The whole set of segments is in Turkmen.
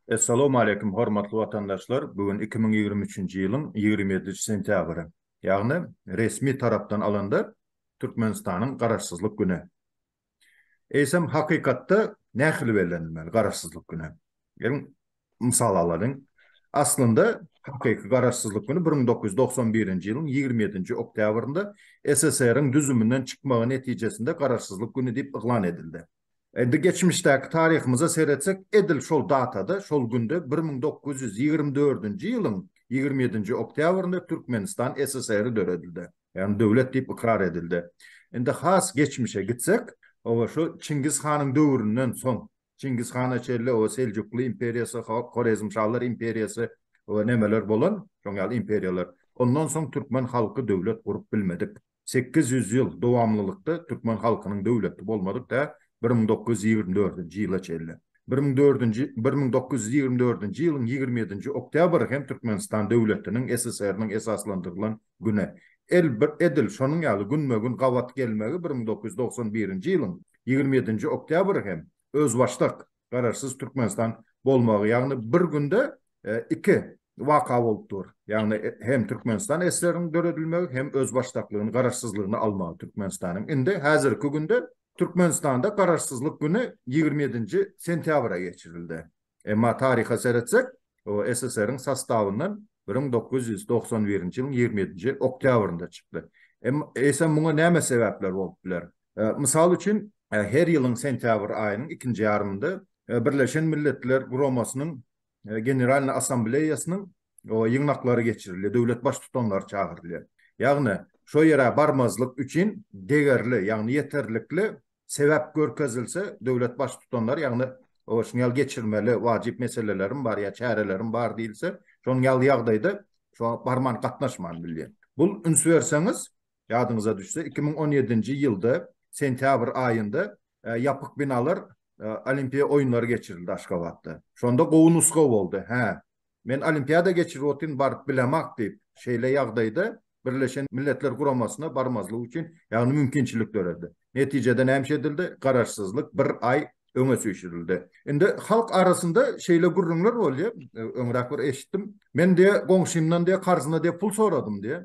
Essalawmaleýkim hormatly watandaşlar bu gün iki müň ýigrimi üçünji ýylyň ýigrimi ýedinji sentýabry ýagny resmi tarapdan alanda Türkmenistanyň garaşsyzlyk güni Eýsem, hakykatda nähili bellenilmeli Garaşsyzlyk güni? Geliň, mysal alalyň. Aslynda, hakyky Garaşsyzlyk güni bir müň dokuz ýüz togsan birinji ýylyň ýigrimi ýedinji oktýabrynda SSR-iň düzüminden çykmagy netijesinde Garaşsyzlyk güni diýip yglan edildi. Indi geçmişdäki taryhymyza seretsek, edil şol datada, şol günde bir müň dokuz ýüz ýigrimi dördünji ýylyň ýigrimi ýedinji oktýabrynda Türkmenistan SSR-i döredildi. Ýagny döwlet diýip ykrar edildi. Indi has geçmişe gitsek, oba şu Çingiz hanyň döwründen soň, Çingiz hana çenli oba Seljukly imperiýasy, Horezmşalar imperiýasy we nemeler bolan, şoň ýaly imperiýalar. Ondan soň türkmen halky döwlet gurup bilmedik. Sekiz ýüz ýyl dowamlylykda türkmen halkynyň döwleti bolmadyk tä bir müň dokuz ýüz ýigrimi dördünji ýyla çenli. Bir müň dördünji bir müň dokuz ýüz ýigrimi dördünji ýylyň ýigrimi ýedinji oktýabry hem Türkmenistan döwletiniň SSR-niň esaslandyrylan Güne, el bir edil şonuň ýaly günbe-gün gabat gelmegi bir müň dokuz ýüz togsan birinji ýylyň ýigrimi ýedinji oktýabry hem özbaşdak, Garaşsyz Türkmenistan bolmagy, ýagny bir günde iki waka bolup dur. Ýagny hem Türkmenistan SSR-iň döredilmegi, hem özbaşdaklygyny, garaşsyzlygyny almagy Türkmenistanyň. Indi häzirki günde Türkmenistanda Garaşsyzlyk güni ýigrimi ýedinji sentýabra geçirildi. Emma taryha seretsek, o SSR-iň sastawyndan bir müň dokuz ýüz togsan birinji ýylyň ýigrimi ýedinji oktýabrynda çykdy. Eýsem, muňa näme sebäpler bolup biler? Mysal üçin, her ýylyň sentýabr aýynyň ikinji ýarymynda Birleşen Milletler Guramasynyň Generalnyý Assambleýasynyň ýygnaklary geçirilýär, döwlet baştutanlary çagyrylýar. Ýagny, şo ýere barmazlyk üçin degerli, ýagny ýeterlikli sebäp görkezilse, döwlet Baştutanlary, ýagny şunuň ýaly geçirmeli wajyp meselelerim bar ýa çärelerim bar diýilse, şonuň ýaly ýagdaýda şoňa barman, gatnaşman bilýär. Bu, üns berseňiz, ýadyňyza düşse, iki müň on ýedinji ýylda sentýabr aýynda ýapyk binalar Olimpiýa oýunlary geçirildi Aşgabatda. Şonda gowy nusga boldy. Hä, Men olimpiada geçirip otyryn, baryp bilemak diýip, şeýle ýagdaýda Birleşen Milletler Guramasyna barmazlyk üçin, ýagny mümkinçilik döredi. Netijede näme edildi? Garaşsyzlyk bir aý öňe süýşürildi. Indi halk arasynda şeýle gürrüňler bolýar, öňräk bir eşitdim. Men diýe, goňşymdan diýe, karzyna diýe pul soradym diýe.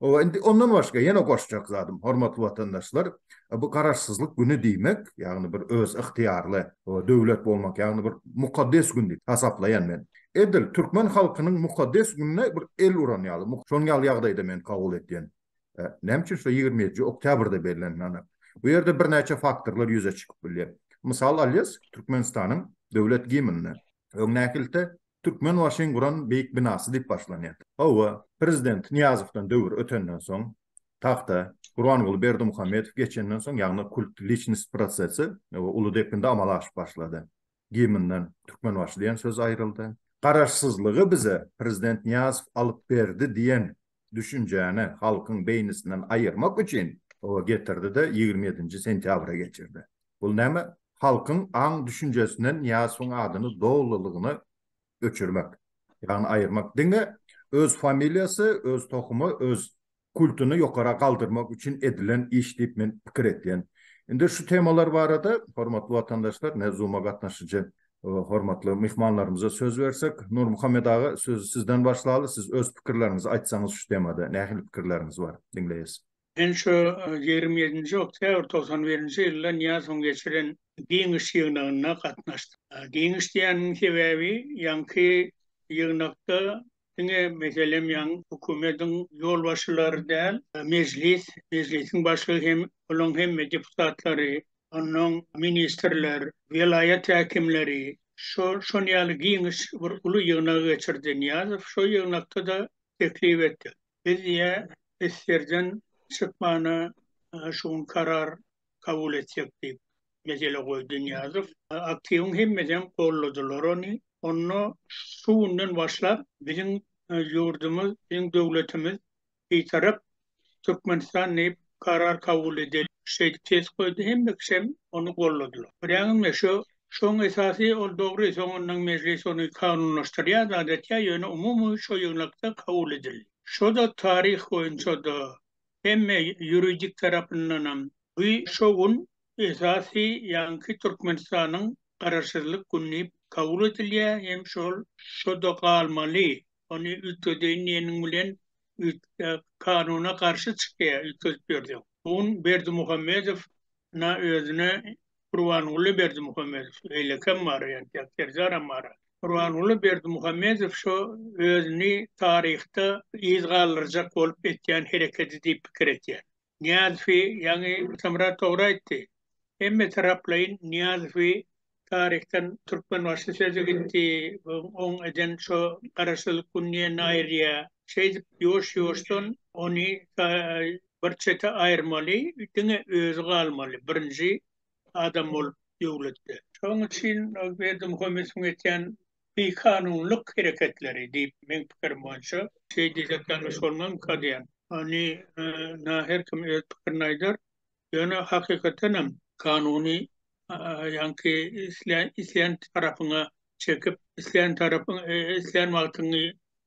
O indi ondan başga ýene goşjak zadym, hormatly watandaşlar, bu garaşsyzlyk güni diýmek, ýagny bir öz ygtyýarly döwlet bolmak, ýagny bir mukaddes gün diýip hasaplaýan men. Edil türkmen halkynyň mukaddes gününe bir el uran ýaly, şonuň ýaly ýagdaýda men kabul etýän. Näme üçin şo ýigrimi ýedinji oktýabrda bellenileni? Bu ýerde birnäçe faktorlar ýüze çykyp bilýär. Mysal alýas, Türkmenistanyň Döwlet gimnini. Öňdäkilte Türkmenbaşyň guran beýik binasy diýip başlanýar. Hawa, prezident Nyýazowdan döwür ötenden soň, tagta Gurbanguly Berdimuhamedow geçenden soň, ýagny kult liçnost prosesi uly depginde amala aşyp başlady. Gimnden Türkmenbaşy diýen söz aýryldy. Garaşsyzlygy bize prezident Nyýazow alyp berdi diýen düşünjäni halkyň beýnisinden aýyrmak üçin oba getirdi-de, ýigrimi ýedinji sentýabra geçirdi. Bul näme? Halkyň aň-düşünjesinden Nyýazowyň adyny dolulygyna öçürmek, ýagny aýyrmak. Diňe öz familiýasy, öz tohumy, öz kultuny ýokara galdyrmak üçin edilen iş diýip men pikir etýän. Indi şu temalar barada, hormatly watandaşlar, mewzuma gatnaşyjy Hormatly myhmanlarymyza söz bersek, Nurmuhammet aga, sözi sizden başlaly, siz öz pikirleriňizi aýtsaňyz şu temada, nähili pikirleriňiz bar, diňleýäs. Men şu ýigrimi ýedinji oktýabr togsan birinji ýylda Nyýazowyň geçiren Giňiş ýygnagyna gatnaşdym. Giňiş diýenimiň sebäbi, ýaňky ýygnakda Diňe meselem ýaňy hökümediň ýolbaşçylary däl, mejlis, mejlisiň başlygy hem olaň hemme deputatlary, onnoň ministrler, welaýat häkimleri, şol şon ýaly giňiş bir uly ýygnagy geçirdi. Nyýazow şo ýygnakda-da teklip etdi. Biz diýýär, SSR-den çykmana şu gün karar kabul etjek diýip, mesele goýdy Nyýazow. Aktiwiň hemmesem goldadylar ony. Onda şu günden başlap biziň ýurdumyz, biziň döwletimiz Bitarap Türkmenistan diýip karar kabul edeli şeýdip ses goýdy. Hemme kişem ony goldadylar. Görýäňizmi, şu şoň esasy ol dogry, soňundan Mejlis ony kanunlaşdyrýar zat etýär, ýöne umumy şo ýygnakda kabul edildi. Şo-da taryh boýunça-da Hemme ýuridik tarapyndanam bu şo gün esasy ýaňky Türkmenistanyň Garaşsyzlyk güni diýip kabul edilýär hem şol şo-da galmaly. Ony üýtgedeýin diýeniň bilen üýtge kanuna garşy çykýar üýtgedip ýörseň. Bu gün Berdimuhamedow na özüne Gurbanguly Berdimuhamedow beýlekem bar entek Serdaram bar. Gurbanguly Berdimuhamedow şo özüni taryhda yz galdyrjak bolup etýän hereketi diýip pikir etýän. Nyýazowy ýaňy Atamyrat dogry aýtdy. Hemme taraplaýyn Nyýazowy taryhdan Türkmenbaşy sözi gitdi, oň eden şo Garaşsyzlyk gününi ýene aýyrýar. Şeýdip ýuwaş-ýuwaşdan ony Bir çete aýyrmaly diňe özi galmaly birinji adam bolup döwletde. Şoň üçin ol Berdimuhammedowyň etýän bikanunlyk hereketleri diýip meň pikirim boýunça. Şeý diýsek ýalňyş bolmazmyka diýýän. Ony na her kim öz pikirini aýdar. Ýöne hakykatenem kanuny ýaňky isleýän tarapyňa çekip isleýän tarapyň isleýän wagtyňy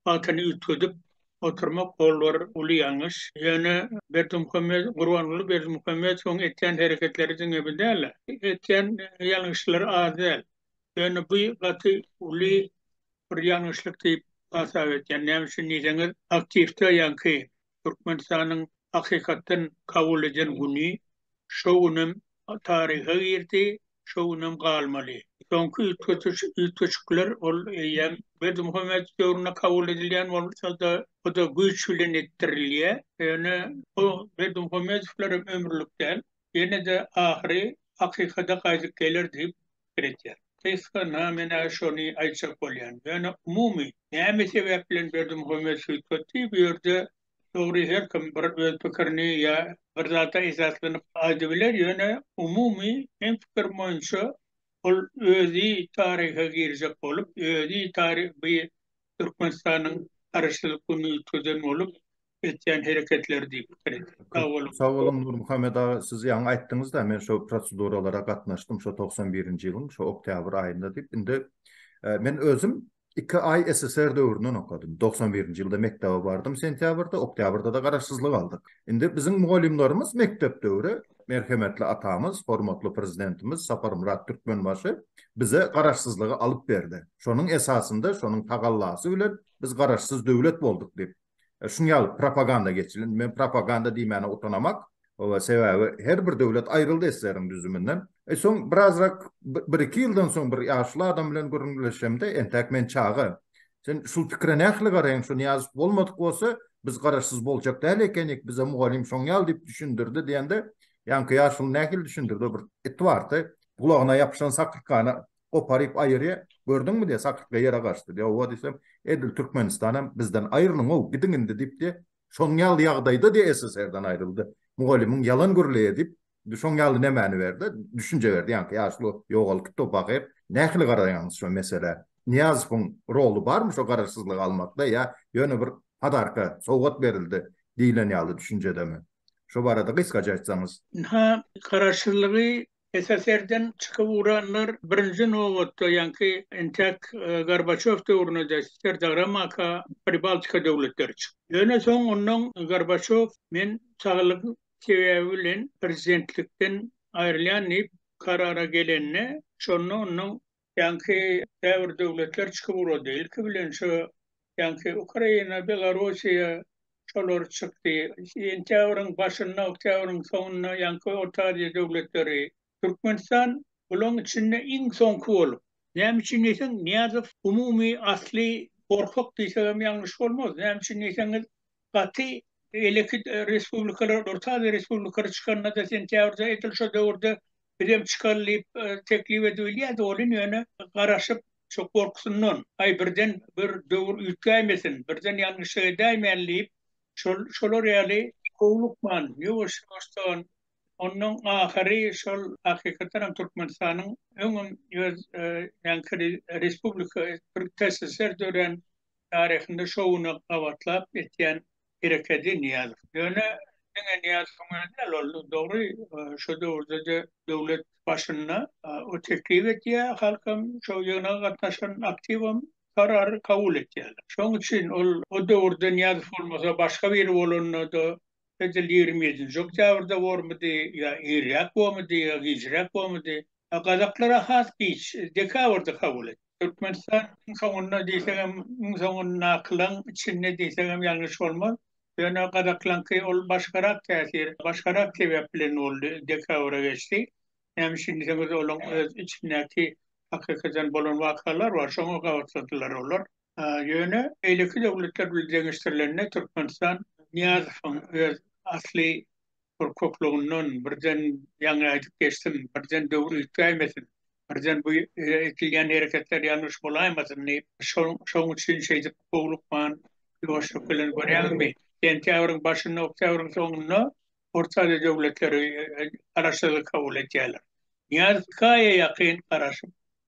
wagtyny üýtgedip oturmak ol bir uly ýalňyş. Ýöne Berdimuhamedow, Gurbanguly Berdimuhamedowyň etýän hereketleri diňe bu däl-de. Etýän ýalňyşlary az däl. Ýöne bu gaty uly bir ýalňyşlyk diýip hasap edýän. Näme üçin diýseňiz, aktiwde ýaňky Türkmenistanyň hakykatdan kabul eden güni şo günem taryha girdi, şo günem galmaly. Soňky üýtgediş, üýtgeşikler ol eýýäm Berdimuhamedow döwründe kabul edilýän bolsa-da, o-da güýç bilen etdirilýär. Ýöne bu Berdimuhamedowlar hem ömürlik däl. Ýene-de ahyry hakykada gaýdyp geler diýip pikir etýän. Gysga-na men-ä şony aýtjak bolýan. Ýöne umumy, näme sebäp bilen Berdimuhamet Süýtgetdi bu ýerde, dogry her kim bir öz pikirini ýa bir zada esaslanyp aýdybiler, ýöne umumy meň pikirim boýunça ol özi taryha girjek bolup, özi taryh bu Türkmenistanyň Garaşsyzlyk gününi üýtgezen bolup, etýän hereketleri diýip pikir etdim. Sag boluň. Sag boluň Nurmuhammet aga, siz ýaňy aýtdyňyz-da, men şo proseduralara gatnaşdym, şo togsan birinji ýylyň şo oktýabr aýynda diýip. Indi men özüm iki aý SSR döwründen okadym. Togsan birinji ýylda mekdebe bardym sentýabrda, oktýabrda-da garaşsyzlyk aldyk. Indi biziň mugallymlarymyz mekdep döwri merhemetli atamyz, hormatly Prezidentimiz Saparmyrat Türkmenbaşy bize garaşsyzlygy alyp berdi. Şonuň esasynda, şonuň tagallasy bilen biz garaşsyz döwlet bolduk diýip. Şunuň ýaly propaganda geçilen, men propaganda diýmäne utanamak, sebäbi her bir döwlet aýryldy SSR-iň düzüminden. Soň birazrak bir-iki ýyldan soň bir ýaşuly adam bilen gürrüňdeşemde, entäk men çaga, Sen şul pikire nähili garaýaň, şu Nyýazow bolmadyk bolsa, biz garaşsyz boljak däl ekenik, bize mugallym şoň ýaly diýip düşündirdi diýende, ýaňky ýaşuly nähili düşündirdi, bir it bardy, gulagyna ýapyşan sakyrkana goparyp aýyrýa, gördüňmi diýýä, sakyrtga ýere gaçdy diýýä, hawa diýsem, edil Türkmenistanam bizden aýrylyň-ow, gidiň indi diýip diýýä, şoň ýaly ýagdaýda diýýä SSR-den aýryldy. Mugallymyň ýalan gürleýä diýip, şoň ýaly nämäni berdi, düşünje berdi, ýaňky ýaşuly ýogalkypdyr pahyr. Nähili garaýaňyz şu meselä? Nyýazowyň roly barmy şu garaşsyzlygy almakda ýa ýöne bir padarka, sowgat berildi diýlen ýaly düşünjedemi? Şu barada gysgaça aýtsaňyz. Ynha, garaşsyzlygy SSR-den çykyp ugranlar birinji nobatda ýaňky entäk Gorbaçýow döwrünede Serdagramaga Pribaltika döwletleri çykdy. Ýöne soň ondan Gorbaçýow men saglyk sebäbi bilen prezidentlikden aýrylýan diýip karara gelende şonda ondan Ýaňky käbir döwletler çykyp ugrady. Ilki bilen şu ýaňky Ukraina, Belorussiýa şolar çykdy. Sentýabryň başynda, oktýabryň soňunda ýaňky Orta Aziýa döwletleri. Türkmenistan bulaň içinde iň soňky bolup. Näme üçin diýseň, Nyýazow umumy asly gorkak diýsegem ýalňyş bolmaz. Näme üçin diýseňiz, Gaty eleki respublikalar, Orta Aziýa respublikalar çykanda-da sentýabrda edil şo döwürde bizem çykaly diýip teklip edibilýärdi. Olim ýöne garaşyp, şo gorkusyndan, aý birden bir döwür üýtgäýmesin, birden ýalňyşlyk edäýmäli diýip, şol şolar ýaly, howlukman, ýuwaş-ýuwaşdan, onnoň ahyry şol hakykatdanam Türkmenistanyň öňem öz respublika, bir TSSR dörän Taryhynda şo güne gabatlap etýän herekedi Nyýazow. Ýöne diňe Nyýazowyň özi däl ol, dogry, şo döwürde-de döwlet başynda o teklip edýär, halkam, şo ýygnaga gatnaşan aktiwam karary kabul etýärler. Şonuň üçin ol o döwürde Nyýazow bolmasa, başga biri bolanda-da, edil ýigrimi ýedinji oktýabrda bormydy ýa irräk bormydy ýa gijräk bormydy, Gazaklara has giç, dekabrda kabul etdi. Türkmenistan iň soňunda diýsegem, iň soňundakylaň içinde diýsegem ýalňyş bolmaz. Ýöne gazaklaňky ol başgarak täsir, başgarak sebäp bilen boldy, dekabra geçdi. Näme üçin diýseňiz, olaň öz içindäki hakykadan bolan wakalar bar, şoňa gabaklandylar olar. Ýöne beýleki döwletler bilen deňeşdirilende Türkmenistan Nyýazowyň öz asly bir köklüginden birden ýaňy aýdyp geçdim, birden döwür üýtgäýmesin, birden bu edilýän hereketler ýalňyş bolaýmasyn diýip, şoň üçin şeýdip howlukman, ýuwaşlyk bilen görýäňizmi, sentýabryň başynda, oktýabryň soňunda Orta Aziýa döwletleri Garaşsyzlygy kabul edýärler. Nyýazow iki aýa ýakyn garaşyp,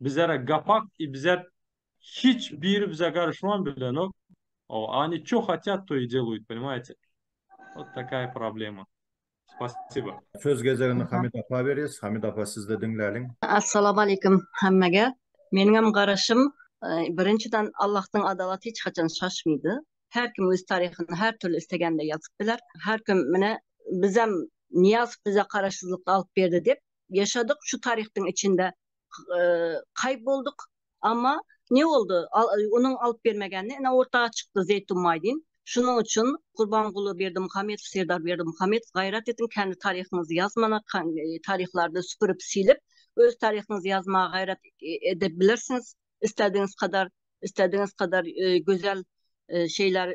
bizere gapak i bizet hiç biri bize garyşman bilenok o ani ço hatýat to i deluýt ponimaýte ot takaýa problema spasiba. Söz gezegini Hamid apa berýäs. Hamid apa sizde diňläliň. Assalamu aleykum hemmege. Meniňem garaşym birinjiden Allahdan adalat hiç haçan şaşmydy. Her kim öz taryhyny her türlü istegende ýazyp biler. Her kim mine bizem Nyýazow bize garaşsyzlykda alyp berdi dep ýaşadyk şu taryhdyň içinde kaýp bolduk amma ne boldy onuň alyp bermegende ene orta çykdy zeýtun maýdin şunuň üçin gurbanguly berdimuhamedow serdar berdimuhamedow gaýrat ediň kendi taryhyňyzy ýazmana taryhlarda süpürip silip öz taryhyňyzy ýazmaga gaýrat edip bilersiňiz istedigiňiz kadar istedigiňiz kadar gözel şeyler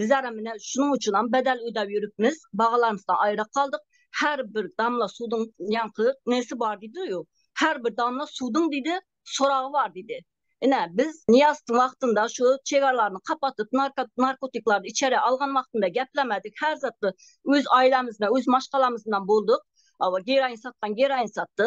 Biz ara mine şunuň üçinem bedel ödäp ýörüpmiz, bagalansda aýra galdyk. Her bir damla suduň ýaňky nesi bar diýdi ýo. Her bir damla suduň diýdi, soragy bar diýdi. Ine, biz Nyýazowyň wagtynda şu çegaralaryny kapatyp, narkotiklary içeri algan wagtynda geplemedik, her zatda öz aýlamyzda, öz maşgalamyzdan bolduk. Hawa, geroin satdan geroin satdy.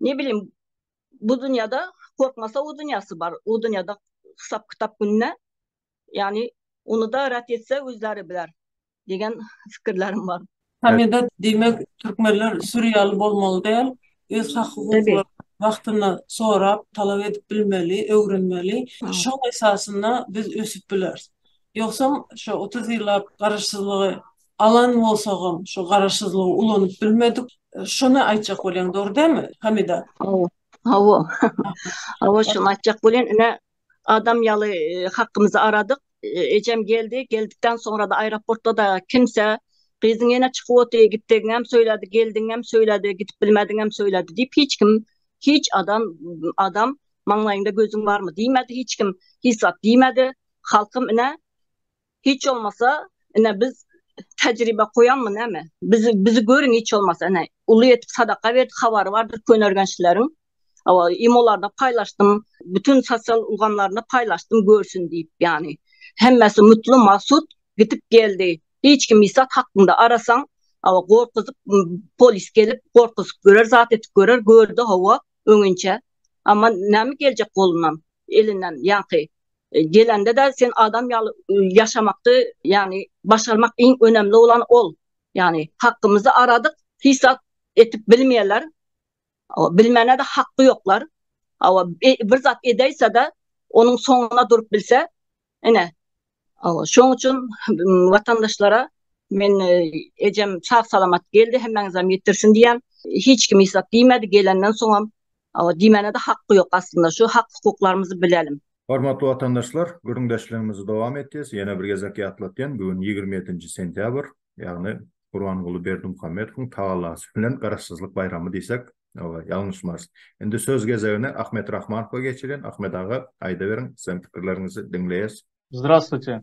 ne bilim bu dünýäde gorkmasa o dünýäsi bar. O dünýäde hesap kitap gününe yani onu da ret etse özleri biler degen fikirlerim bar. Hamida diýmek türkmenler sürýaly bolmaly däl, öz hak hukuklaryny wagtynda sorap, talap edip bilmeli, öwrenmeli. Şoň esasynda biz ösüp bileris. Ýogsam şo otuz ýyllap garaşsyzlygy Alan bolsagam şu garaşsyzlygy ulanyp bilmedik. Şony aýtjak bolýaň dogry dälmi Hamida? Hawa. Hawa. Hawa şony aýtjak bolýan ine adam ýaly hakkymyzy aradyk. Ejem geldi. Geldikden soňra-da aeroportda-da kimse gyzyň ýene çykyp otyr, gitdigiňem söýledi, geldigiňem söýledi, gidip bilmediňem söýledi diýip hiç kim, hiç adam adam maňlaýyňda gözüň barmy diýmedi hiç kim hiç zat diýmedi. Halkym ine Hiç bolmasa ine biz tejribe goýanmy näme? Bizi bizi görüň hiç bolmasa ine uly etip sadaka berdik habary bardyr könergençlileriň. Hawa imolarda paýlaşdym bütün sosial ulgamlarynda paýlaşdym görsün diýip ýany. Hemmesi mutlu magsut gidip geldi. Hiç kim isat hakynda arasaň hawa gorkuzyp polis gelip gorkuzyp görer zat etip görer gördi hawa öňinçe. Amma näme geljek golundan elinden ýaňky Gelende-de sen adam ýaly ýaşamakdy, ýagny başarmak iň önemli bolan ol. Ýagny hakymyzy aradyk, hiç zat etip bilmeýärler. Hawa, bilmäne-de haky ýoklar. Hawa, bir zat edäýse-de, onuň soňuna durup bilse, ine, hawa, şoň üçin watandaşlara men ejem sag-salamat geldi, hemmäňizem ýetirsin diýýän. Hiç kim hiç zat diýmedi, gelenden soňam Hawa diýmäne-de haky ýok aslynda şu hak hukuklarymyzy bilelim. Hormatly watandaşlar gürrüňdeşligimizi dowam etýäs ýene bir gezek ýatlatýan bu gün ýigrimi ýedinji sentýabr ýagny Gurbanguly Berdimuhamedowyň tagallasy bilen garaşsyzlyk baýramy diýsek oba ýalňyşmarys. Indi söz gezegini Ahmet Rahmanowa geçirýän Ahmet aga aýdyberiň siziň pikirleriňizi diňleýäs. Zdrastwuýte.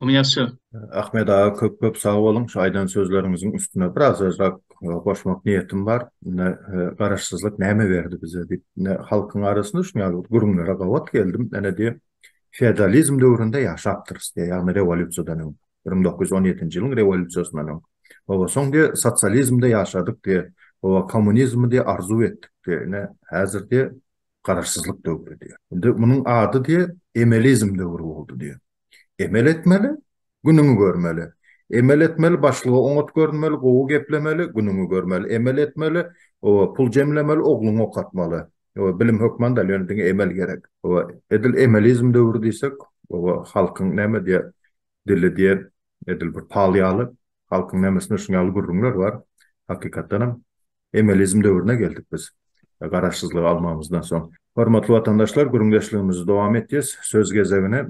Onu ýazşa. Ahmet aga köp köp sag boluň şu aýdan sözleriňiziň üstüne biraz sözrak goşmak niýetim bar. Ine garaşsyzlyk näme berdi bize diýip. Ine halkyň arasynda şu ýaly gürrüňlere gabat geldim. Ine diýip feodalizm döwründe ýaşapdyrys diýip. Ýagny rewolýusiýadan öň. Bir müň dokuz ýüz on ýedinji ýylyň rewolýusiýasyndan öň. Oba soň diýip sosializmde ýaşadyk diýip. Oba kommunizmi diýip arzuw etdik diýip. Ine häzir diýip garaşsyzlyk döwri diýip. Indi munuň ady diýip emelizm döwri boldy diýip. Emel etmeli, günüňi görmeli. Emel etmeli, başlyga oňat görünmeli, gowy geplemeli, günüňi görmeli. Emel etmeli, oba, pul jemlemeli, ogluňy okatmaly. Oba, bilim hökman däl, ýöne diňe emel gerek. Oba, edil emelizm döwri diýsek, oba, halkyň näme diýer, dili diýer, edil bir pal ýaly, halkyň nemesinde şuň ýaly gürrüňler bar, hakykatdanam. Emeliizm döwrüne geldik biz garaşsyzlygy almamyzdan soň. Hormatly watandaşlar gürüňdeşligimizi dowam etýäs. Söz gezegine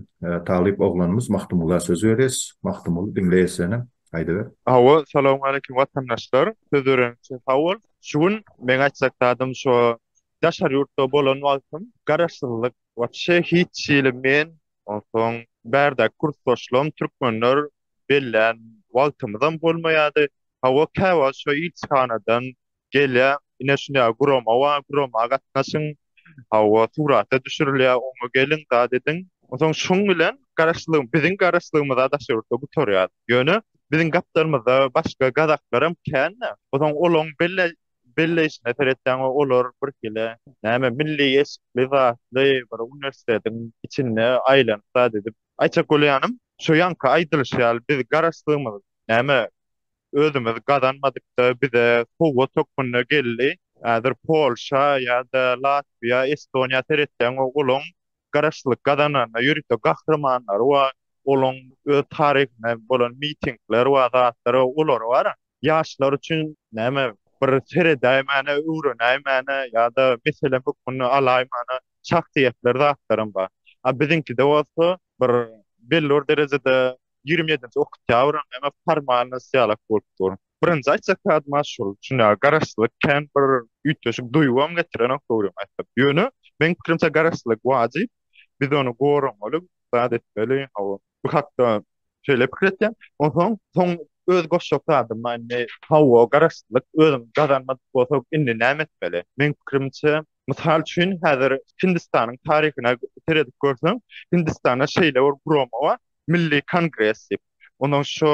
talyp oglanymyz Magtymgula söz berýäs. Magtymguly diňleýäs seni. Aýdyber. Hawa, salowmaleýkim watandaşlar. Söz beren üçin sag bol. Şu gün meň aýtjak zadym şo daşary ýurtda bolan wagtym garaşsyzlyk wapşe hiç hili men onsoň bärdäki kursdaşlarym türkmenler bellän wagtymyzam bolmaýardy. Hawa, käwagt şo ilçihanadan gelýär, ine şuny ýaly gurama bar, gurama gatnaşyň, hawa, surata düşürilýär, oňa geliň, zat ediň. Onsoň şuň bilen garaşlygy, biziň garaşlygymyz-a daş ýurtda gutarýar. Ýöne biziň gapdalymyzda başga gazaklaram kän-dä. Onsoň olaň belle, belleýşine seretseň, we olar birhili, näme, milli eşikli, zatly, bir uniwersitetiň içinde aýlanyp zat edip, Aýtjak bolýanym, şo ýaňky aýdylyşy ýaly biz garaşsygymyz näme özümiz gazanmadyk-da, bize sowgat hökmünde geldi. Häzir Polşa ýa-da Latwiýa, Estoniýa seretseň, olaň garaşsyzlyk gazananyna ýörite gahrymanlary bar, olaň öz taryhynda bolan mitingleri bar, zatlary bar, olary bar-a. ýaşlar üçin näme bir seredäýmäne, öwrenäýmäne ýa-da mesele hökmünde alaýmana şahsyýetler, zatlaram bar. A biziňkide bolsa bir belli bir derejede ýigrimi ýedinji oktýabram näme formalnost ýalak bolup dur. Birinji aýtjak zadym has şol, şunda garaşsyzlyk kän bir üýtgeşik duýgam getirenok dogrym aýtsam. Ýöne meň pikirimçe garaşsyzlyk wajyp, biz ony goramaly, zat etmeli, hawa. Bu hakda şeýle pikir etýän. Onsoň soň öz goşjak zadym indi hawa garaşsyzlyk özüň gazanmadyk bolsaň indi näme etmeli? Meň pikirimçe mysal üçin häzir Hindistanyň taryhyna seredip görseň Hindistanda şeýle bir gurama bar Milli kongres diýip. Onsoň şo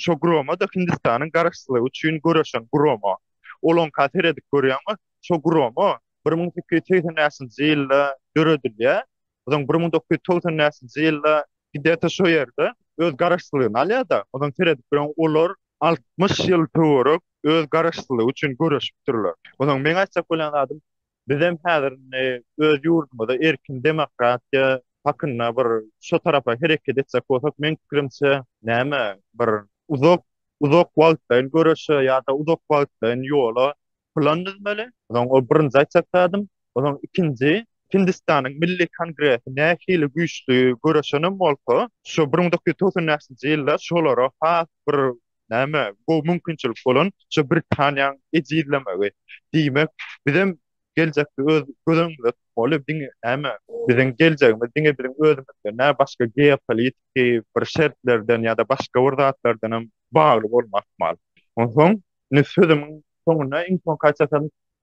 şo gurama-da Hindistanyň garaşsyzlygy üçin göreşen gurama. Olaňka seredip görýäňmi şo gurama bir müň sekiz ýüz segsen bäşinji ýylda döredilýär Ozaň bir müň dokuz ýüz togsan bäşinji ýylda Hideta şo ýerde öz garaşsyzlygyny alýar-da, ozaň seredip duran olar altmyş ýyl töwerek öz garaşsyzlygy üçin göreşipdirler. Ozaň meň aýtjak bolýan zadym, bizem häzir indi öz ýurdumyzda erkin demokratiýa hakynda bir şo tarapa hereket etjek bolsak, meň pikirimçe, näme, bir uzak, uzak wagtlaýyn göreşe ýa-da uzak wagtlaýyn ýola plan düzmeli. Soň o birinji aýtjak zadym, soň ikinji, Hindistanyň Milli Kongresi nähili güýçli göreşenem bolsa, şu bir müň dokuz ýüz togsan bäşinji ýylda şolara has bir näme, gowy mümkinçilik bolan şu Britaniýaň ejizlemegi. Diýmek, bizem geljekde öz göz öňümizde tutmaly, diňe näme, biziň geljegimiz diňe biziň özümizden däl, başga geopolitiki bir şertlerden ýa-da başga bir zatlardanam bagly bolmazmaly. Onsoň, Indi sözümiň soňunda iň soňky aýtjak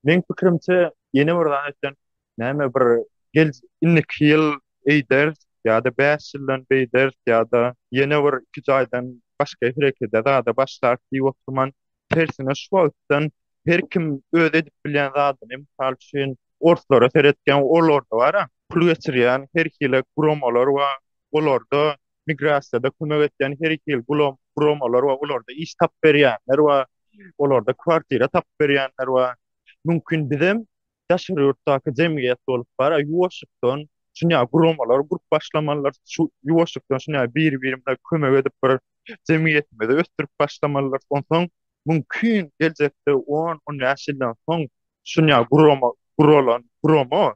meň pikirimçe ýene bir zat aýtýan, näme bir gel indiki ýyl eýderis ýa-da bäş ýyldan beýderis ýa-da ýene bir iki jaýdan başga herekede zada başlaris diýip oturman, tersine şu wagtdan her kim öz edip bilýän zadyny, mysal üçin, orslara seretseň, olarda bar-a, pul geçirýän her hili guramalar bar, olarda migrasiýada kömek etýän her iki ýyl gulam guramalar we olarda iş tapyp berýänler we olarda kwartira tapyp berýänler we mümkin bizem daşary ýurtdaky jemgyýet bolup bara ýuwaşykdan şunýa guramalar gurup başlamalylar şu ýuwaşykdan şunýa bir-birimize kömek edip bir jemgyýetimizi ösdürip başlamalylar onsoň mümkin geljekde 10-15 ýyldan soň şunýa gurama guralan gurama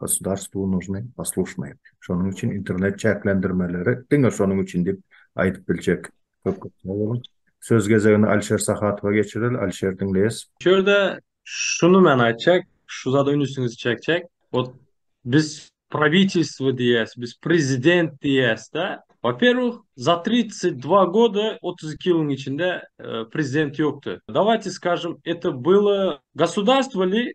Gosudarstwu nužny poslušnye. Şonuň üçin internet çäklendirmeleri diňe şonuň üçin diýip aýdyp biljek. Köp köp sag boluň. Söz gezegini Alişer Sahatowa geçireli. Alişer diňleýäs. Şu ýerde şuny men aýtjak, şu zada ünsüňizi çekjek. Ot biz prawitilstwo diýýäs, biz prezident diýýäs-de. Waperwih, za tridsat dva goda, otuz iki ýylyň içinde prezident ýokdy. Dawajte skažem, eto byly gosudarstwo li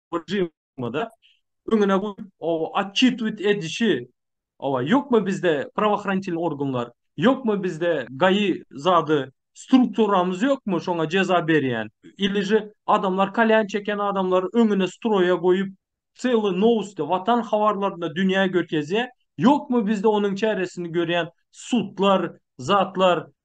režimde öňüne goýup, o otçitwit edişi, owa, ýokmy bizde prawoohranitelnii organlar, ýokmy bizde gaýy zady strukturamyz ýokmy şoňa jeza berýän, ilije adamlar kalýan çeken adamlary öňüne stroýa goýup, sely nowsti, watan habarlaryny dünýä gökezýär, ýokmy bizde onuň çäresini görýän sudlar, zatlar,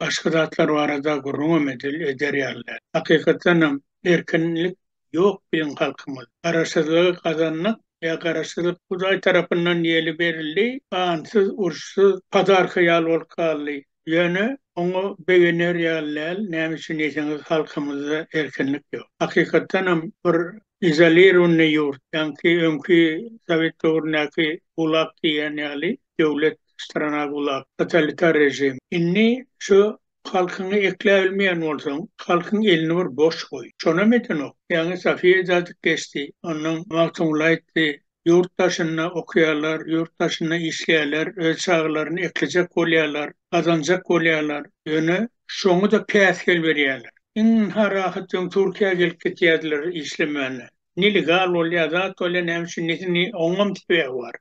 başga zatlar barada gürrüňem edil, eder ýaly däl. Hakykatdan hem, erkinlik ýok biziň halkymyz. Garaşsyzlygy gazandyk, ýa garaşsyzlyk Hudaý tarapyndan ýeli berildi, gansyz, uruşsyz, padarka ýaly bolup galdy. Ýöne, oňa begener ýaly däl, näme üçin diýseňiz, halkymyzda erkinlik ýok. Hakykatdan hem, bir izolirowanyý ýurt, ýaňky öňki sowet döwründäki gulag diýýän ýaly döwlet. Strana gulak, totalitar režim. Indi şu halkyňy ekläbilmeýän bolsaň, halkyň elini bir boş goý. Şonam edenok. Ýaňy Safiýa Jadyk geçdi. Ondan Magtymguly aýtdy, Ýurt daşynda okaýarlar, ýurt daşynda işleýärler, öz çagalaryny eklejek bolýarlar, gazanjak bolýarlar. Ýöne şoňa-da päsgel berýärler. Iň ynha rahat öň Türkiýä gelip gitýärdiler işlemänä. Nelegal bolýar, zat bolýar, näme üçin, nesini, oňam sebäbi bar.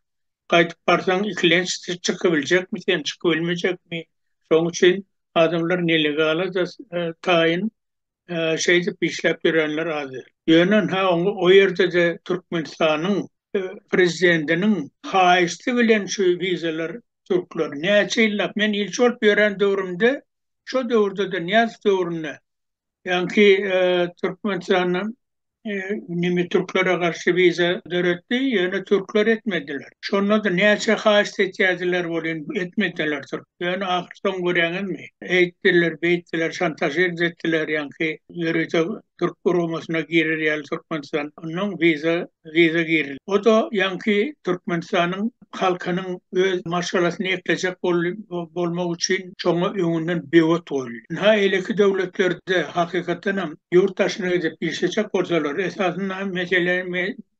gaýdyp barsaň ikilenç siz çykybiljekmi sen çykybilmejekmi şoň üçin adamlar nelegala da taýyn şeýdip işläp ýörenler az däl ýöne ha o ýerdede türkmenistanyň prezidentiniň haýyşty bilen şu wizalar türkler näçe ýyllap men ilçi bolup ýören döwrümde şo döwürdede nyýazow döwründe Ýaňky Türkmenistanyň nimi türklere garşy wiza döretdi, ýöne türkler etmediler. Şonda-da näçe haýyşt etýärdiler welin etmediler türk. Ýöne ahyr soň görýäňizmi, eýtdiler, beýtdiler, şantažirz etdiler ýaňky ýörite türk guramasyna girer ýaly Türkmenistan ondan wiza gyza girildi. O-da ýaňky Türkmenistanyň halkynyň öz maşgalasyny eklejek bolmagy üçin şoňa öňünden böwet goýuldy. Ynha, eýleki döwletlerde, hakykatdan hem, ýurt daşyna gidip işlejek bolsalar, esasynda hem mesele,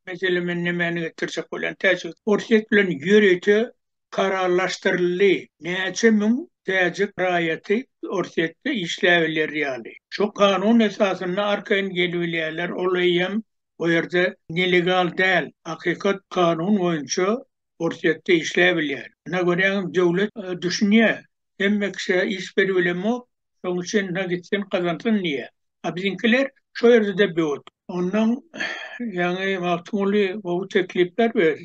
mesele men nämäni getirjek bolýan, täjik, Orsýet bilen ýörite kararlaşdyryldy, näçe müň täjik raýaty Orsýetde işläbiler ýaly. Şo kanun esasynda arkaýyn gelibilýärler, olaýam o ýerde nelegal däl hakykat kanun boýunça Orsýetde işläp bilýär. Ina görýäňiz döwlet düşünýär hemme kişä iş berip bilemok şoň üçin ina gitsin gazansyn diýýär. A biziňkiler şo ýerde-de böwet. Ondan ýaňy Magtymguly gowy teklipler ber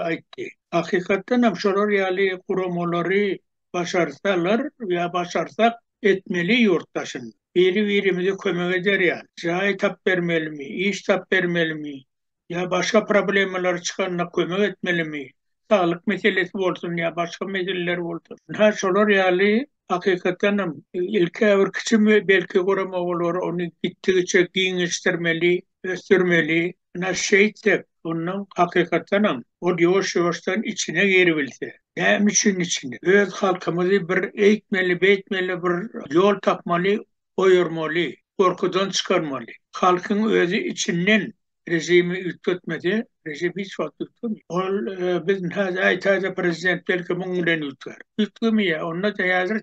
aýtdy. Hakykatdanam şolar ýaly guramalary başarsalar ýa başarsak etmeli ýurtdaşyn. Biri-birimize kömek eder ýaly, jaý tap bermelimi, iş tap bermelimi ýa başga problemalary çykanda kömek etmelimi, saglyk meselesi bolsun ýa başga meseleler bolsun. Ynha şolar ýaly hakykatdan hem ilk-ä bir kiçi belki gurama olar ony gitdigiçe giňeşdirmeli, ösdürmeli ynha şeýtsek ondan hakykatdanam ol ýuwaş ýuwaşdan içine giribilse näme üçin içine öz halkymyzy bir eýtmeli beýtmeli bir ýol tapmaly goýurmaly gorkudan çykarmaly halkyň özi içinden režimi üýtgetmese režim hiç wagt üýtgemeýär ol biz häzir aýtaýda prezident belki muň bilen üýtgär üýtgemeýär onda da häzir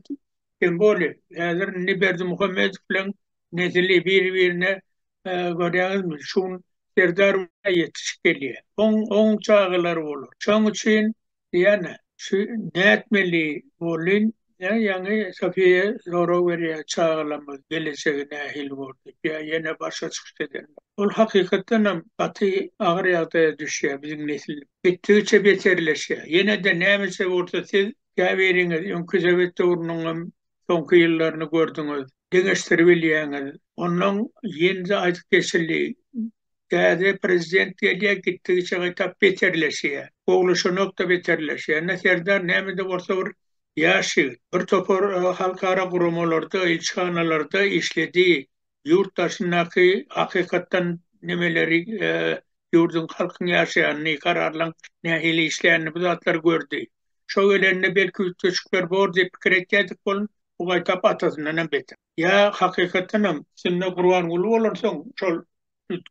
sen boli häzir indi berdimuhamedow bilen nesili biri birine görýäňizmi, şu gün Serdar ýetişip gelýär. Oň, oň çagalary bolar. Şoň üçin ýene şu nätmeli bolyn, ýa ýaňy Sofiýa sorag berýär, çagalarymyz gelejegi nähili bor diýip, ýa ýene başga çykyş eden. Ol hakykatdan hem gaty agyr ýagdaýa düşýär biziň nesil. Gitdigiçe beterleşýär. Ýene-de nämeçe bolsa siz käbiriňiz öňki sowet döwrüniň hem soňky ýyllaryny gördüňiz, deňeşdiribilýäňiz. Onnoň ýene-de aýdyp geçildi, täze prezident gelýär, gitdigiçe gaýtap beterleşýär. Gowulaşanok-da beterleşýär. Ýöne Serdar näme-de bolsa bir ýaş ýigit. Bir topar halkara guramalarda, ilçihanalarda işledi. ýurt daşyndaky hakykatdan nemeleri ýurduň halkyň ýaşaýanyny kararlaň nähili işleýänini bu zatlary gördi. Şo gelende belki üýtgeşikler bor diýip pikir etýädik bolun bu gaýtap atasyndan hem beter. Ýa hakykatdan hem içinde Gurbanguly bolansoň şol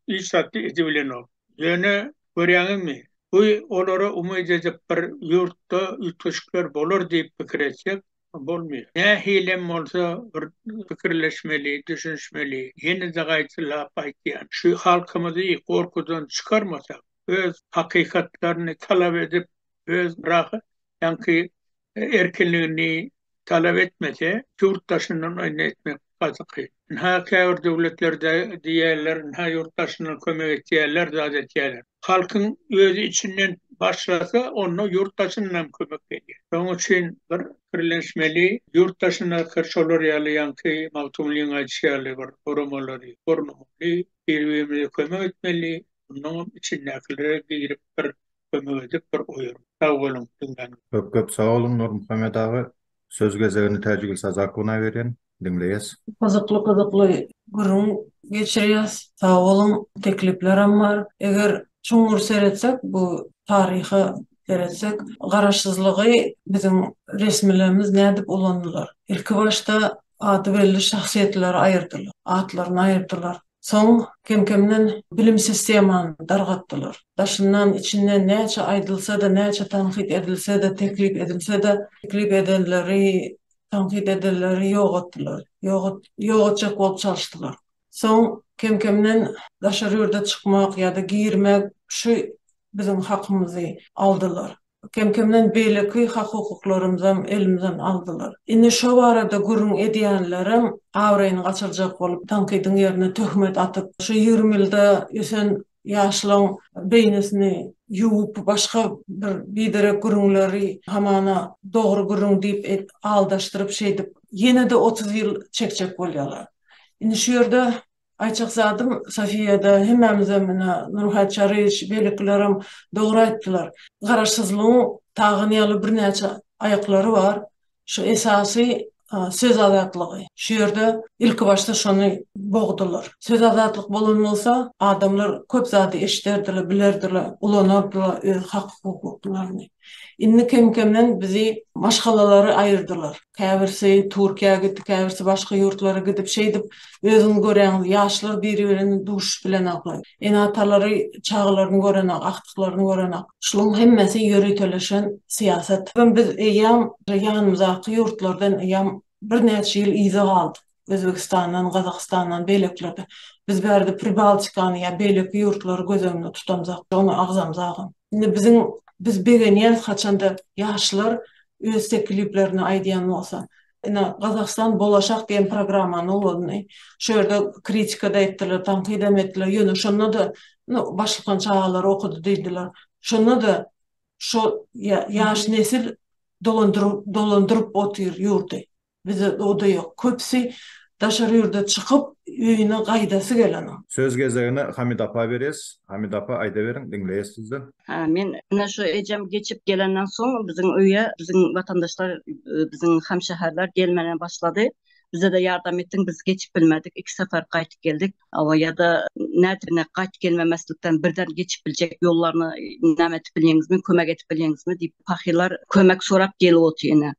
hiç zat edibilenok. Ýöne görýäňizmi bu olara umyt edip bir ýurtda üýtgeşikler bolar diýip pikir etsek bolmaýar. Nähilem bolsa bir pikirleşmeli, düşünişmeli. Ýene-de gaýtalap aýtýan, şu halkymyzy gorkudan çykarmasak, öz hakykatlaryny talap edip, öz rahatjaňky erkinligini talap etmese, ýurt daşyndan ony etmek gatyky. Ynha, käbir döwletlerde diýýärler, ynha ýurt daşyndan kömek etýärler, zat etýärler. Halkyň özi içinden başlasa, onda ýurt daşyndan hem kömek gelýär. Şonuň üçin bir pikirlenişmeli, ýurt daşyndaky şolar ýaly ýaňky Magtymgulynyň aýdyşy ýaly bir guramalary gurnamaly, bir-birimize kömek etmeli, mundan hem içindäkilere girip bir kömek edip bir oýaryn. Sag boluň diňläniňiz. Köp köp sag boluň Nurmuhammet aga. Söz gezegini Täjigül Sazakowna berýän. Diňleýäs. Gyzykly gyzykly gürrüň geçirýäs. Sag boluň. Tekliplerem bar. Eger çuňňur seretsek bu taryha seretsek garaşsyzlygy biziň resmilerimiz nädip ulandylar? Ilki başda ady belli şahsyýetleri aýyrdylar. Atlaryny aýyrdylar. Soň kem-kemden bilim sistemany dargatdylar. Daşyndan, içinden näçe aýdylsa-da, näçe tankyt edilse-de, teklip edilse-de, teklip edenleri, tankyt edenleri ýok etdiler. Ýok etjek bolup çalyşdylar. Soň kem-kemden daşary ýurda çykmak ýa-da girmek şu biziň hakymyzy aldylar. Kem-kemden beýleki hak-hukuklarymyzam elimizden aldylar. Indi şo barada gürrüň edýänlerem abraýyny gaçyrjak bolup, tankydyň ýerine töhmet atyp, şu ýigrimi ýylda ösen ýaşlaň beýnisini ýuwup, başga bir biderek gürrüňleri hamana dogry gürrüň diýip aldaşdyryp, şeýdip, ýene-de otuz ýyl çekjek bolýarlar. Indi şu ýerde Aýçakzadym Sofiýada hemmämizem ine Nurhat Çaryýewiç beýlekilerem dogry aýtdylar. Garaşsyzlygyň tagan ýaly birnäçe aýaklary bar. Şu esasy söz azatlygy. Şu ýerde ilkibaşda şony bogdular. Söz azatlyk bolan bolsa adamlar köp zady eşiderdiler, bilerdiler, ulanardylar öz hak-hukuklaryny. Indi kem-kemden bizi maşgalalary aýyrdylar. Käbirsi Türkiýä gitdi, käbirsi başga ýurtlara gidip, şeýdip özüňiz görýäňiz, ýaşlar biri-birini duşup bilenak. Ene-atalary çagalaryny görenak, agtyklaryny görenak. Şularyň hemmesi ýöriteleşen syýasat. Biz eýýäm ýanymyzdaky ýurtlardan eýýäm birnäçe ýyl yza galdyk. Özbegistandan, Gazagystandan, beýlekilerde. Biz bärde Pribaltikany ýa beýleki ýurtlary göz öňünde tutamzok, ony agzamzogam. Indi biziň, biz begenýäris haçanda ýaşlar öz tekliplerini aýdýan bolsa. Ine, Gazagystan bolaşak diýen programmany ulandy. Şu ýerde kritika-da etdiler, tankyt-am etdiler, ýöne şonda-da, nu, başlykan çagalary okudy diýdiler. Şonda-da şo ýa, ýaş nesil dolandyryp, dolandyryp otyr ýurdy. Bizde doda ýok. Köpsi daşary ýurda çykyp, öýüne gaýdasy gelenok. Söz gezegini Hamida apa berýäs. Hamida apa, aýdaweriň, diňleýäs sizden. Hä, men ine şu ejem geçip gelenden soň biziň öýe biziň watandaşlar, biziň hamşäherler gelmäne başlady. Bize-de ýardam etdiň, biz geçip bilmedik, iki sapar gaýtyp geldik. Hawa, ýa-da nädibine gaýtyp gelmemezlikden birden geçip biljek ýollaryny näme etip bilýeňizmi, kömek edip bilýeňizmi diýip, pahylar kömek sorap gelip otyr ine.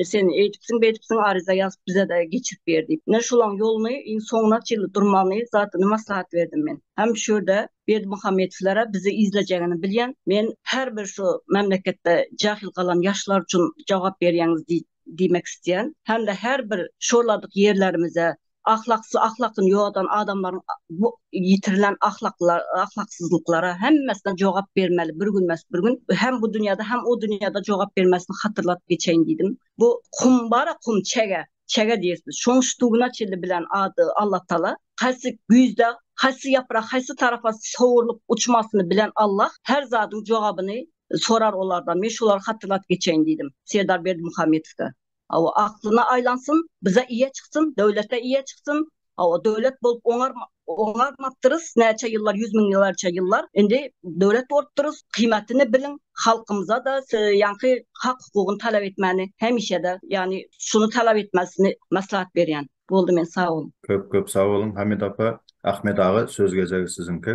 E, sen eýdipsiň beýdipsiň aryza ýazyp bize de geçirip ber diýip. Ne şolaň ýoluny iň soňuna çenli durmagyny zadyny maslahat berdim men. Hem şu ýerde Berdimuhamedowlara bizi izlejegini bilýän, men her bir şu memleketde jahil galan ýaşlar üçin jogap berýäňiz diýmek isleýän. Hem-de her bir şorladyk ýerlerimize ahlaksyz ahlakyny ýogadan adamlaryň bu ýitirilen ahlaklar ahlaksyzlyklara hemmesine jogap bermeli bir gün mes bir gün hem bu dünýäde hem o dünýäde jogap bermesini hatyrlatyp geçeýin diýdim bu kum bara kum çege çege diýersiz şoň ştuguna çilli bilen ady Allah tala haýsy güýzde haýsy ýaprak haýsy tarapa sowurlyp uçmasyny bilen Allah her zadyň jogabyny sorar olardan men şolary hatyrlatyp geçeýin diýdim Serdar Berdimuhamedowda Hawa aklyna aýlansyn, bize ýe çyksyn, döwlete ýe çyksyn, hawa döwlet bolup oňarma, oňarmapdyrys näçe ýyllar ýüz müňlerçe ýyllar, indi döwlet bolupdyrys, kyýmatyny biliň, halkymyza-da ýaňky hak hukugyny talap etmäni hemişe-de ýagny şuny talap etmesini maslahat berýän. Boldy men sag boluň. Köp köp sag boluň Hamid apa. Ahmet aga söz gezegi siziňki.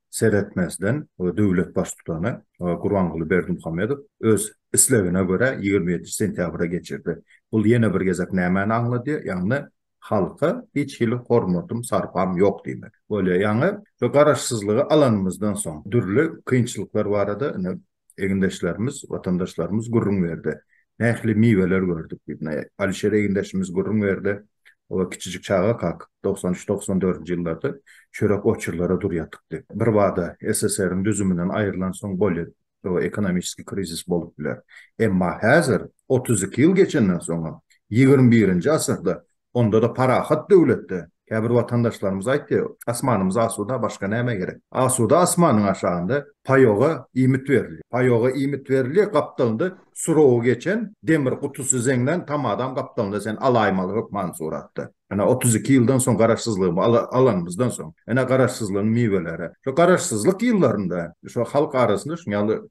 seretmezden, döwlet Baştutany Gurbanguly Berdimuhamedow öz islegine görä ýigrimi ýedinji sentýabra geçirdi. Bul ýene bir gezek nämäni aňladýar? Ýagny halka hiç hili hormatym, sarpam ýok diýmek bolýar. Ýagny şu garaşsyzlygy alanymyzdan soň dürli kynçylyklar barada indi egindeşlerimiz, watandaşlarymyz gürrüň berdi. Nähili miweler gördük diýip, ine, Alişer egindeşimiz gürrüň berdi. Ol kiçijik çagakak togsan üç, togsan dördünji ýyllarda çörek oçurlara dur ýatypdy. Birbada SSR-iň düzüminden aýrylansoň bolýar, o ekonomiski krizis bolup biler. Emma häzir, otuz iki ýyl geçenden soňam, ýigrimi birinji asyrda Onda-da parahat döwletde käbir watandaşlarymyz aýtdy, Asmanymyz asuda, başga näme gerek? Asuda asmanyň aşagynda paýoga iýmit berilýär. Paýoga iýmit berilýär, gapdalynda surawy geçen demir gutusy zeňňän tamadam gapdalynda sen alaýmaly hökman suratda. Ene, otuz iki ýyldan soň Garaşsyzlygy alanymyzdan soň, ene, Garaşsyzlygyň miweleri. Şo Garaşsyzlyk ýyllarynda şo halk arasynda şuňaly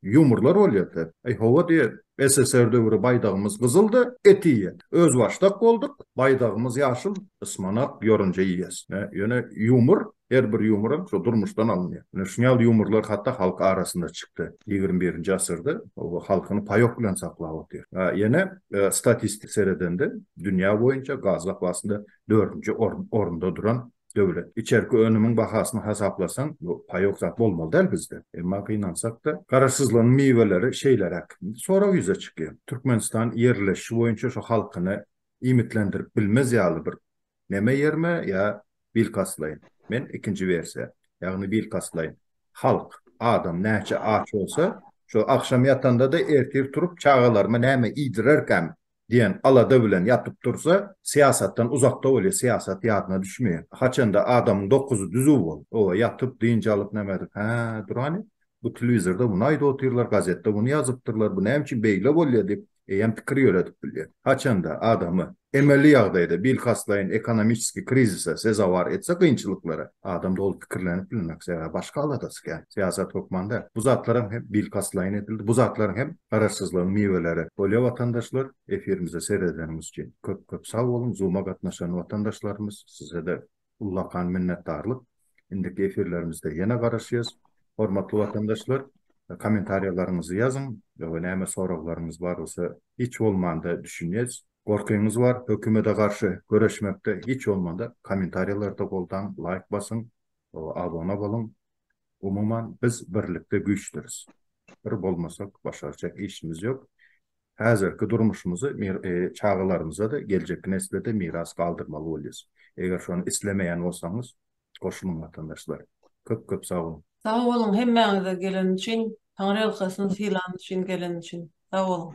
ýumurlar bolýardy. Aý, hawa diýýär, SSR döwri baýdagymyz gyzyldy, et iýýän. Özbaşdak bolduk, baýdagymyz ýaşyl, ysmanak, ýorunja iýýäs. Ýöne ýumor, her bir ýumoram şo durmuşdan alynýar. Ine şun ýaly ýumorlar hatda halk arasynda çykdy. Ýigrimi birinji asyrda oba halkyny paýok bilen saklap otyr. Ýene statistik seredende dünýä boýunça gaz zapasynda dördünji orunda duran döwlet. Içerki önümiň bahasyny hasaplasaň, bu paýok zat bolmaly däl bizde. Emma gynansak-da, Garaşsyzlygyň miweleri şeýleräk. Indi sorag ýüze çykýar. Türkmenistan ýerleşişi boýunça şu halkyny iýmitlendirip bilmez ýaly bir neme ýermi ýa bilkastlaýyn? Men ikinji wersiýa, ýagny bilkastlaýyn. Halk, adam näçe aç bolsa, şo agşam ýatanda-da ertir turup çagalaryma näme iýdirerkäm diýen alada bilen ýatyp dursa, syýasatdan uzakda bolýar, syýasat ýadyna düşmeýär. Haçanda adamyň dokuzy düzüw bolup, oba ýatyp, dynç alyp, näme edip, Hä, durany, bu telewizorda muny aýdyp otyrlar, gazetde muny ýazypdyrlar, bu näme üçin beýle bolýar diýip, eýýäm pikir ýöredip bilýär. Haçanda adamy emeli ýagdaýda, bilkastlaýyn ekonomiçeskiý krizise sezewar etse, kynçylyklara, Adam doly pikirlenip bilmek, sebäbi başga aladasy kän. Syýasat hökman däl. Bu zatlaram hem bilkastlaýyn edildi. Bu zatlaryň hem garaşsyzlygyň miweleri. Bolýa watandaşlar, efirimize seredeniňiz üçin köp köp sag boluň, Zoom-a gatnaşan watandaşlarymyz sizede ullakan minnetdarlyk. Indiki efirlerimizde ýene garaşýas. Hormatly watandaşlar, kommentariýalaryňyzy ýazyň we näme soraglaryňyz bar bolsa hiç bolmanda düşünýäs. Gorkyňyz bar hökümede garşy göreşmekde hiç bolmanda komentarýalarda goldaň laýk basyň abona boluň umuman biz birlikde güýçdiris bir bolmasak başarjak işimiz ýok häzirki durmuşymyzy çagalarymyzada geljekki neslede miras galdyrmaly bolýas eger şony islemeýän bolsaňyz goşulyň watandaşlar köp köp sag boluň. Sag boluň hemmäňize geleni üçin Taňryýalkasyn sylany üçin geleni üçin sag boluň.